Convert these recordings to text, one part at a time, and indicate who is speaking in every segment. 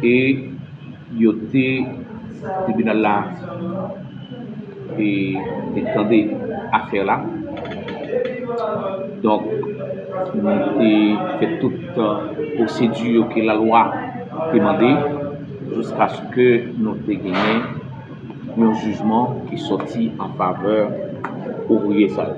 Speaker 1: e yo te tribinal la e te tande afè la donk nou te fè tout pwosedi yo ke lalwa te mande jouskaske nou te genyen yon jijman ki soti an favè ouvriye sa yo.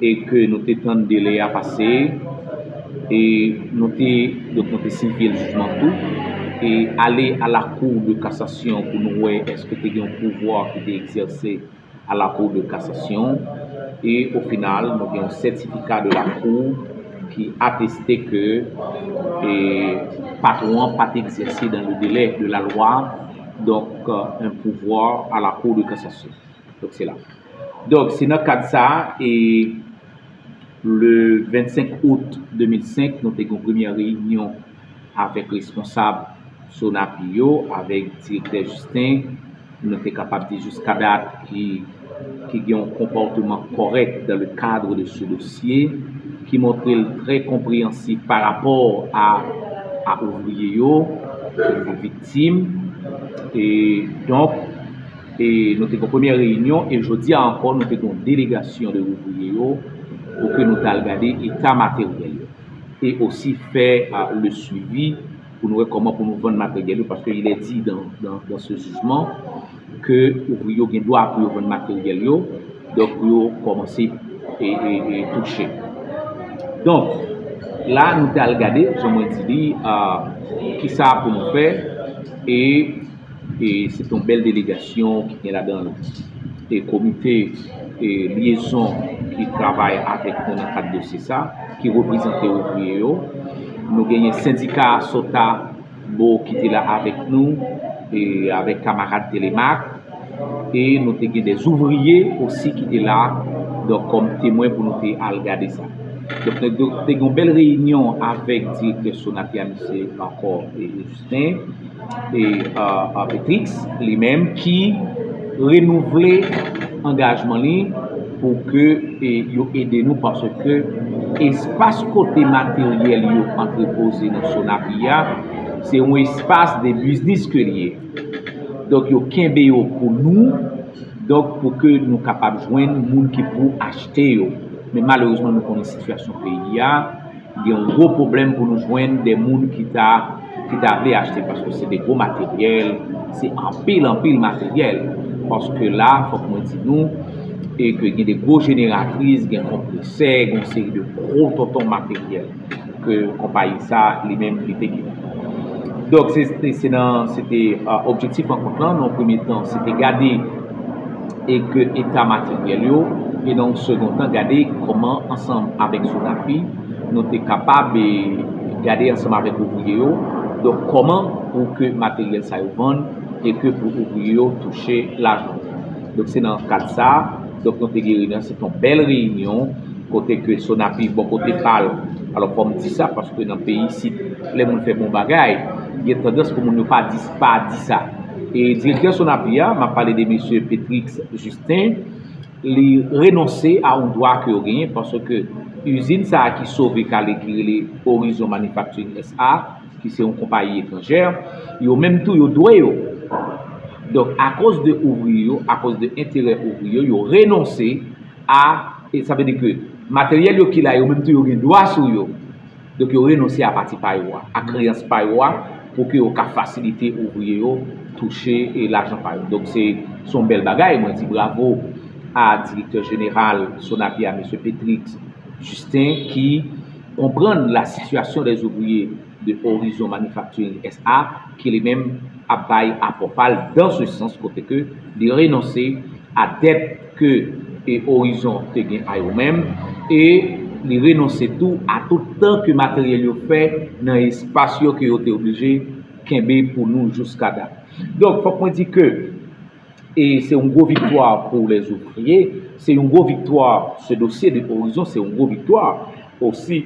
Speaker 1: e ke nou te tann delè a pase e nou te donk nou te sivye l jijman tou e ale a la kou de kasasyon pou nou wè eske te gen yon pouvwa ki te egzèse a la kou de kasasyon e o final nou gen yon sètifika de la kou ki ateste ke e patwon an pa te egzèse dan le delè de la lwa donk yon pouvwa a la kou de kasasyon. Donk se la. Donk se nan kad sa a e le 25 out 2005 nou te gen yon premyè reyinyon avèk responsab Sonapi yo, avèk direktè Jisten, nou te kapab di jiska dat ki gen yon konpòteman kòrèk dan le kadre de se dosye, ki montre l trè konpreyansif pa rapò a a ouvriye yo, ki te viktim e donk. E nou te gen yon premyè reyinyon e jodi a ankò nou te gen yon delegasyon de ouvriye yo pou ke nou t al gade eta materyèl yo e osi fè le swivi pou nou wè kòman pou nou vann materyèl yo paske il est dit dans ce jugement ke ouvriye yo gen dwa pou yo vann materyèl yo donk pou yo kòmanse e touche donk la nou t al gade jan mwen di li kisa pou nou fè e E se te yon bèl delegasyon ki gen ladan l e komite e lyezon ki travay avèk nou nan kad dosye sa ki reprezante ouvriye yo. Nou genyen sendika Asota bo ki te la avèk nou e avèk kamarad Telemak e nou te gen dè ouvriye osi ki te la donk kòm temwen pou nou te al gade sa. Donk te gen yon bèl reyinyon avèk direktè Sonatel misye ankò e Sen e Petrix li menm ki renouvle angajman li pou ke yo ede nou paske espas kote materyèl yo antrepoze nan Sonapi a se yon espas de biznis ke li ye. Donk yo kenbe yo pou nou, donk pou ke nou kapab jwenn moun ki pou achte yo. Men malerezman nou konnen sitiyasyon peyi a. Gen yon gwo pwoblèm pou nou jwenn de moun ki ta ki ta vle achte paske se de gwo materyèl, se anpil anpil materyèl. Paske la fòk mwen di nou e ke gen de gwo jeneratris, gen konpresè, gen yon seri de gwo tonton materyèl ke konpayi sa li menm li te gen. Donk se nan se te objektif rankont lan nan yon premye tan se te gade e ke eta materyèl yo, e nan yon segon tan gade kòman ansanm avèk Sonafi nou te kapab gade ansanm avèk ouvriye yo, donk kòman pou ke materyèl sa yo vann e ke pou ouvriye yo touche lajan. Donk se nan kad sa, donk nou te gen reyinyon, se te yon bèl reyinyon kote ke Sonafi bò kote pa l, alò fò m di sa paske nan peyi isit lè moun fè bon bagay gen tandans pou moun yo pa di sa. pa di sa. E direktè Sonapi a, m ap pale de mesye Petrix Justin, li renonse a yon dwa ke yo genyen paske izin sa a ki sove kale ki rele Horizon Manufacturing SA, ki se yon konpayi etranjè, yo menm tou yo dwe yo. Donk akoz de ouvriye yo, akoz de enterè ouvriye yo, yo renonse a, sa vle di ke materyèl yo ki la yo menm tou yo gen dwa sou yo. Donk yo renonse a pati pa yo a, a kreyans pa yo a pou ke yo ka fasilite ouvriye yo touche e lajan pa yo. Donk se son bèl bagay, mwen di bravo a direktè jeneral Sonapi a Mesye Petrix Justin ki konprann la sitiyasyon dè ouvriye de Horizon Manufacturing SA ki li menm ap bay apò pa l dan se sans kote ke li renonse a dèt ke e Orizon te gen a yo menm e li renonse tou a tout tan ke materyèl yo fè nan espas yo ke yo te oblije kenbe pou nou jouska dat. Donk, fòk mwen di ke e se yon gwo viktwa pou lè zouvriye, se yon gwo viktwa se dosye de Orizon, se yon gwo viktwa osi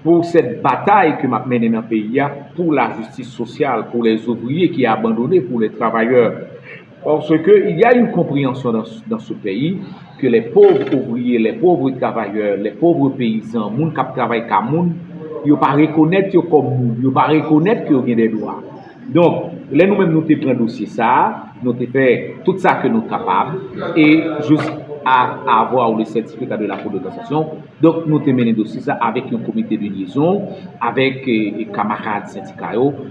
Speaker 1: pou sèt batay ke m ap mennen nan peyi a pou lajistis sosyal, pou lè zouvriye ki abandone, pou lè travayè. Parce que il y a une comprehension dans ce pays que les pauvres ouvriers, les pauvres travailleurs, les pauvres paysans, moun kap travay ka moun, yo pa rekonèt yo kòm moun, yo pa rekonèt ke yo gen dè dwa. Donk, lè nou menm nou te pran dosye sa a, nou te fè tout sa ke nou kapab e jous a avoir le certificat de la cour de cassation, donk nou te mennen dosye sa avèk yon komite de liaison, avèk kamarad sendika yo.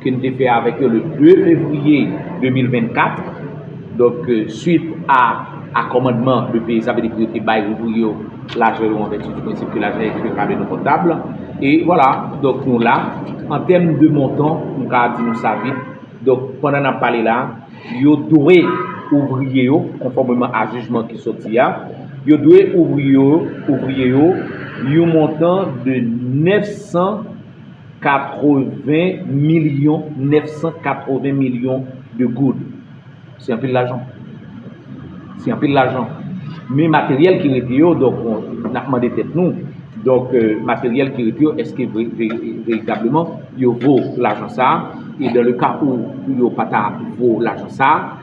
Speaker 1: ke n te fè avèk yo le 2 fevriye 2024, donk swit a a kòmandman le peyi sa vle di pou yo te bay ouvriye yo lajan yo an vèti di prensip ke lajan ekri pa vle nou kontab e vwala donk nou la an tèm de montan m ka di nou sa vit donk pandan n ap pale la yo dwe ouvriye yo konfòmeman a jijman ki soti a yo dwe ouvriye yo yon montan de 900 80 milyon 980 milyon de goud. Se anpil lajan. Se anpil lajan. Men materyèl ki rete yo, donk, n ap mande tèt nou, donk, materyèl ki rete yo, eske veritableman yo vo lajan sa a? E dan le ka ou yo pa ta vo lajan sa a?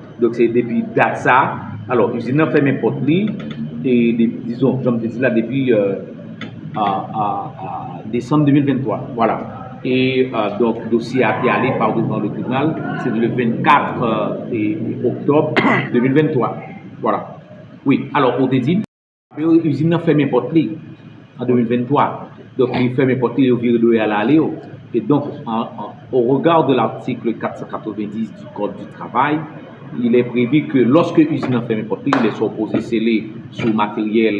Speaker 1: Donk se depi dat sa, alò izin nan fèmen pòt li e dizon janm te di la depi desanm 2023 vwala e donk dosye a te ale pa devan le tribinal se le 24 oktòb 2023 vwala wi alò ou te di. Yo izin nan fèmen pòt li an 2023, donk li fèmen pòt li e yo vire do yo al ale yo. E donk, au regard de l'article 490 du code du travail, il est prévu que lorsque izin nan fèmen pòt li, il est supposé sceller sou materyèl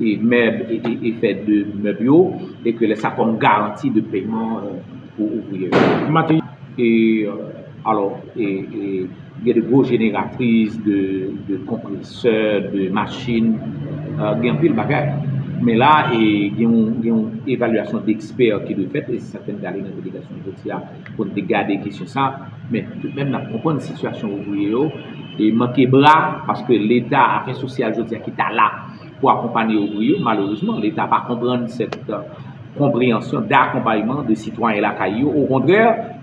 Speaker 1: e mèb e fè de mèb yo e ke lè sa kòm garanti de pèman pou ouvriye yo. Alò, gen de gwo jeneratris, de konpresè, de machin, gen anpil bagay. Men la, gen yon evalyasyon dekspè ki dwe fèt, e se sa k fè n te ale nan delegasyon jodi a pou n te gade kesyon sa. Men, toutmenm n ap konprann sitiyasyon ouvriye yo manke bra, paske Leta, afè sosyal jodi a ki ta la pou akonpanye ouvriye yo, malerezman, Leta pa konprann sèt konpreyansyon dakonpayman de sitwayen lakay yo. Okontrè!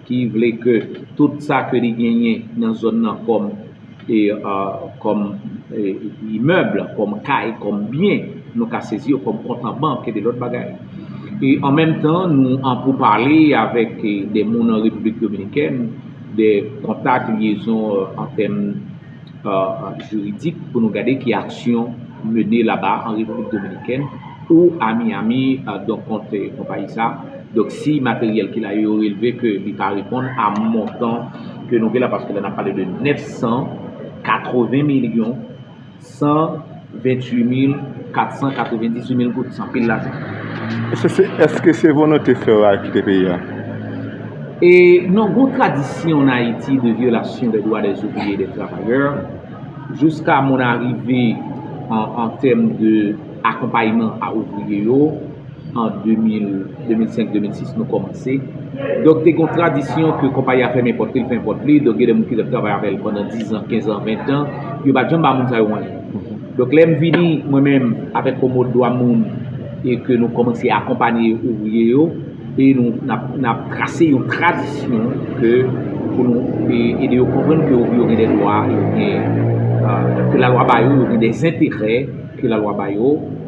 Speaker 1: ki vle ke tout sa ke li genyen nan zòn nan kòm e kòm imèb, kòm kay, kòm byen, nou ka sezi yo kòm kont an bank e de lòt bagay. E an menm tan, nou an pou pale avèk de moun an Repiblik Dominikèn, de kontak, lyezon an tèm. jiridik pou nou gade ki aksyon mene laba an Repiblik Dominikèn ou a Miyami donk kont konpayi sa donk si materyèl ki la yo relve ke li pa reponn a montan ke nou gen la paske la nan pale de 980 milyon 100 28 mil 498 mil goud san pil lajan.
Speaker 2: Eske se volonte frè w a ki te peye a? E
Speaker 1: non gon tradisyon an Ayiti de vyolasyon de dwa des ouvriers et des travailleurs jouska moun arive an tèm de akonpayman a ouvriye yo. An 2005-2006 nou kòmanse. Donk te gen yon tradisyon ke konpayi a fèmen pòt li, l fèmen pòt li. Donk gen de moun ki te ap travay avè l pandan dizan, kenzan, ventan. Yo pa t janm ba moun sa yo mwayen. Donk lè m vini mwen menm avèk yon mòd dwa moun e ke nou kòmanse akonpanye ouvriye yo e nou n ap trase yon tradisyon ke pou nou ede yo konprann ke ouvriye yo gen dè dwa, ke lalwa ba yo, yo gen dè zenterè ke lalwa ba yo.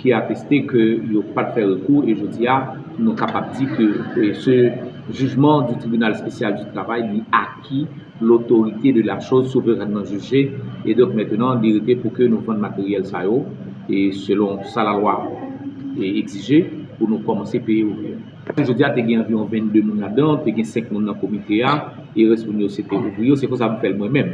Speaker 1: ki ateste ke yo pat fè rekou e jodi a nou kapab di ke se jijman di tribinal spesyal di travay li aki lotorite de la choz souverènman jije e donk mentenan li rete pou ke nou vann materyèl sa yo e selon sa la lwa egzije pou nou kòmanse peye yo vre. Jodi a te gen anviwon 22 moun la dan te gen 5 moun nan komite a e rès moun yo se te ouvriye yo se konsa m fè l mwen menm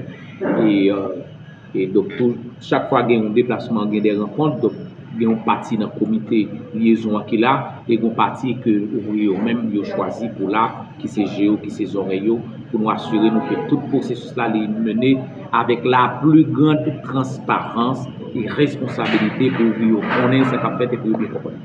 Speaker 1: e. E donk tou, chak fwa gen yon deplasman, gen de rankont, donk gen yon pati nan komite lyezon an ki la, e gen yon pati ke ouvriye yo menm yo chwazi pou la, ki se je yo, ki se zòrèy yo, pou nou asire nou ke tout pwosesis la li mene avèk la pli gran transparans e responsabilite pou ouvriye yo konnen sa k ap fèt e pou yo byen konprann.